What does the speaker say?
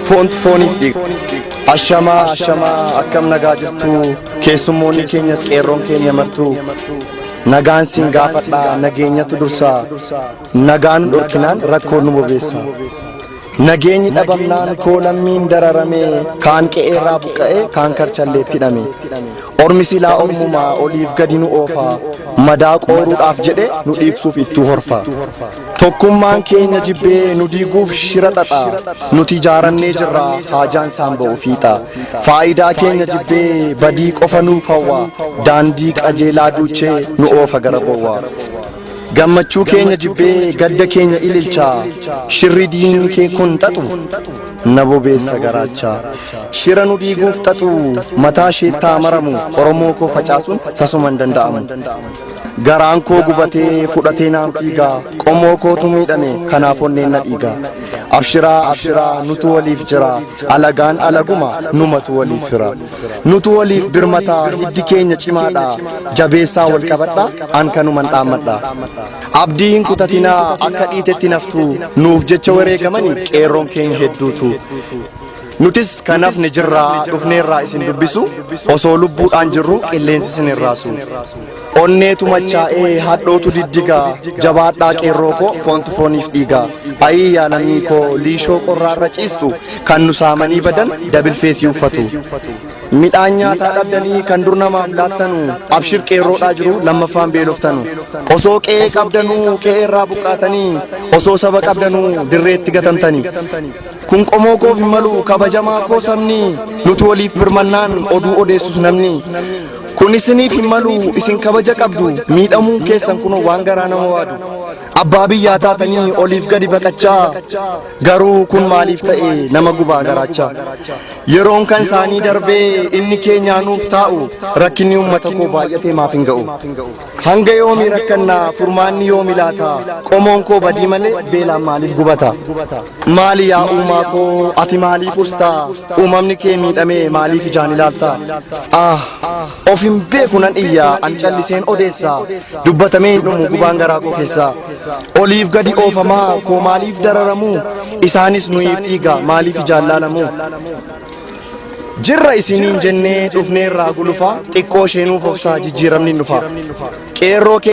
foont fooniif dhiiga. Ashamaa ashamaa akkam nagaa jirtu keessummoonni keenyas qeerroon keenya martu nagaan siin gaafadha nageenyatu dursa nagaan dhorkinaan rakkoon nu bobeessa. Nageenyi dhabamnaan koo lammiin dararamee kaan qe'eerraa buqqa'ee kaan karchalleetti hidhame. Ormi silaa ormumaa oliif gadi nu oofa madaa qooruudhaaf jedhe nu dhiigsuuf ittuu horfa. Tokkummaan keenya jibbee nu diiguuf shira xaxa nuti ijaarannee jirra haajaan isaan ba'u fiixa. Faayidaa keenya jibbee badii qofa nuuf hawwa daandii qajeelaa duuchee nu oofa gara bowwa. Gammachuu keenya jibbee gadda keenya ililcha shirri diinni kee kun xaxu na bobeessa garaacha shira nu diiguuf xaxu mataa sheettaa maramu oromoo koo facaasuun tasuma hin danda'amu garaan koo gubatee fudhatee naan fiiga qomoo kootu miidhame kanaaf onneen na dhiiga abshiraa abshiraa nutu waliif jira alagaan alaguma numatu waliif fira nutu waliif birmataa hiddi keenya cimaadha jabeessaa wal qabadha an kanuman dhaammadha abdii hin kutatinaa akka dhiitetti naftu nuuf jecha wareegamani qeerroon keenya hedduutu nutis kanaaf ni jirraa dhufneerraa isin dubbisu osoo lubbuudhaan jirru qilleensi isin irraasu Onneetu machaa'ee hadhootu diddigaa Jabaadhaa qeerroo koo foontu fooniif dhiigaa Ayii yaa lammii koo liishoo qorraarra ciistu Kan nu saamanii badan dabil feesii uffatu Midhaan nyaataa dhabdanii kan dur namaaf laattanu Abshir qeerroodhaa jiru lammaffaan beeloftanu Osoo qe'ee qabdanuu qe'eerraa buqqaatanii Osoo saba qabdanuu dirreetti gatamtani Kun qomoo koof hin malu kabajamaa koo sabni nuti waliif birmannaan oduu odeessus namni. Kun isiniif hin malu isin kabaja qabdu miidhamuun keessan kunoo waan garaa nama waadu. Abbaa biyyaa taatanii oliif gadi baqachaa garuu kun maaliif ta'e nama gubaa garaachaa. Yeroon kan isaanii darbee inni keenyaa nuuf taa'u rakkinni uummata koo baay'atee maaf hin ga'u. Hanga yoomi rakkannaa furmaanni yoomi laata qomoon koo badii malee beelaan maaliif gubata. Maali yaa uumaa koo ati maaliif ustaa uumamni kee miidhamee maaliif ijaan ilaalta ah of hin beeku nan iyyaa an calliseen odeessa dubbatamee hin dhumu gubaan garaa koo keessa oliif gadi oofamaa koo maaliif dararamu isaanis nuyiif dhiiga maaliif ijaan laalamu jirra isiniin jennee dhufneerraa gulufaa xiqqoo isheenuuf obsaa jijjiiramni dhufa qeerroo kee